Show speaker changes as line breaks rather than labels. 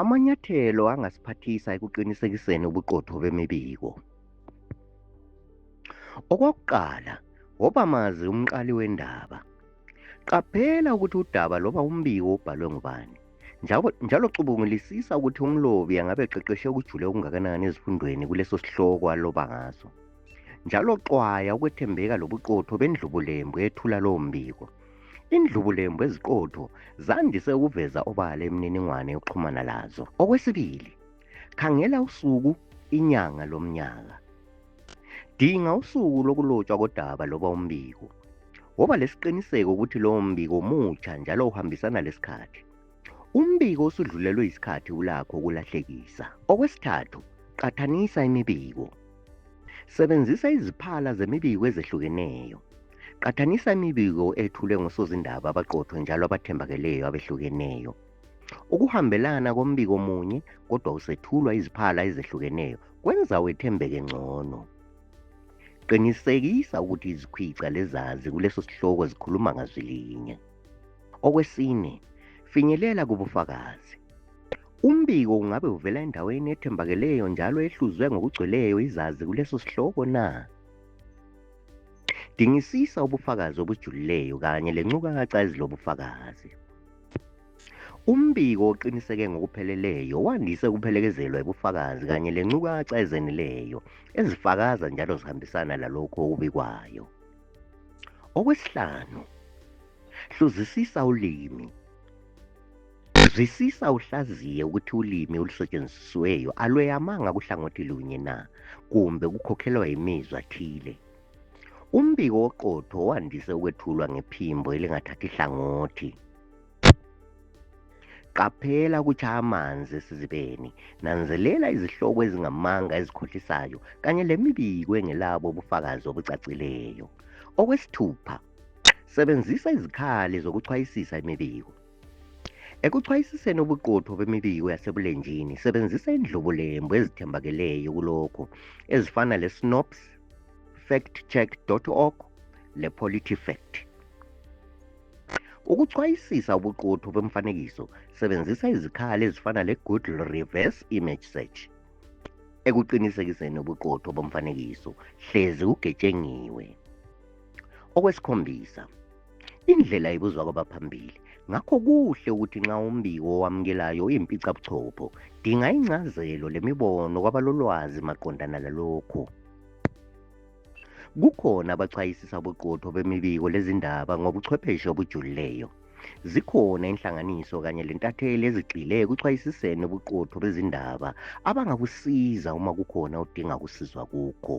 Amanyathelo angasiphathisa ekuqinisekiseni ubuqotho bemibiko. Okwakuqala, woba mazi umqali wendaba. Qaphela ukuthi udaba loba umbiko ubhalwe ngubani. Njalo, njalo cubungulisisa ukuthi umlobi angabe eqeqeshe ukujule okungakanani ezifundweni kuleso sihloko aloba ngaso. Njalo xwaya ukwethembeka lobuqotho bendlubulembu ethula lowo mbiko. indlubulembu eziqotho zandise ukuveza obala imininingwane yokuxhumana lazo okwesibili khangela usuku inyanga lomnyaka dinga usuku lokulotshwa kodaba loba umbiko woba lesiqiniseko ukuthi lowo mbiko mutsha njalo uhambisana lesikhathi Umbiko usudlulelwe isikhathi ulakho ukulahlekisa. Okwesithathu, qathanisa imibiko. Sebenzisa iziphala zemibiko ezehlukeneyo. Qathanisa imibiko ethulwe ngosozindaba abaqothwe njalo abathembakeleyo abehlukeneyo. Ukuhambelana kombiko munye kodwa usethulwa iziphala ezehlukeneyo kwenza wethembeke ngcono. Qinisekisa ukuthi izikhwica lezazi kuleso sihloko zikhuluma ngazwi linye. Okwesine, finyelela kubufakazi. Umbiko ungabe uvela endaweni ethembakeleyo njalo ehluzwe ngokugcweleyo izazi kuleso sihloko na? Dingisisa ubufakazi obujulileyo kanye lencukaca ezilobufakazi. Umbiko oqiniseke ngokupheleleyo wandise ukuphelekezelwa yibufakazi kanye lencukaca ezenileyo ezifakaza njalo zihambisana lalokho okubikwayo. Okwesihlanu, hluzisisa ulimi. Zwisisa uhlaziye ukuthi ulimi olusetshenzisiweyo alweyamanga kuhlangothi lunye na kumbe kukhokhelwa yimizwa thile. Umbiko oqotho wandise ukwethulwa ngephimbo elingathathi hlangothi. Qaphela ukutshaya amanzi esizibeni. Nanzelela izihloko ezingamanga ezikhohlisayo kanye lemibiko engelabo ubufakazi obucacileyo. Okwesithupha, sebenzisa izikhali zokuchwayisisa imibiko. Ekuchwayisiseni ubuqotho bemibiko yasebulenjini, sebenzisa indlobulembu ezithembakeleyo kulokho ezifana le-SNOPS, factcheck.org le-PolityFact. Ukuchwayisisa ubuqotho bemfanekiso sebenzisa izikhali ezifana le-Google Reverse Image Search. Ekuqinisekiseni ubuqotho bomfanekiso, hlezi ugetshengiwe. Okwesikhombisa, indlela ibuzwa kwabaphambili. Ngakho kuhle ukuthi nxa umbiko owamukelayo uyimpicabuchopho, dinga ingcazelo lemibono kwabalolwazi maqondana lalokho. Kukhona abachwayisisa ubuqotho bemibiko lezindaba ngobuchwepheshe obujulileyo. Zikhona inhlanganiso kanye lentatheli ezigxile ekuchwayisiseni ubuqotho bezindaba abangakusiza uma kukhona udinga kusizwa kukho.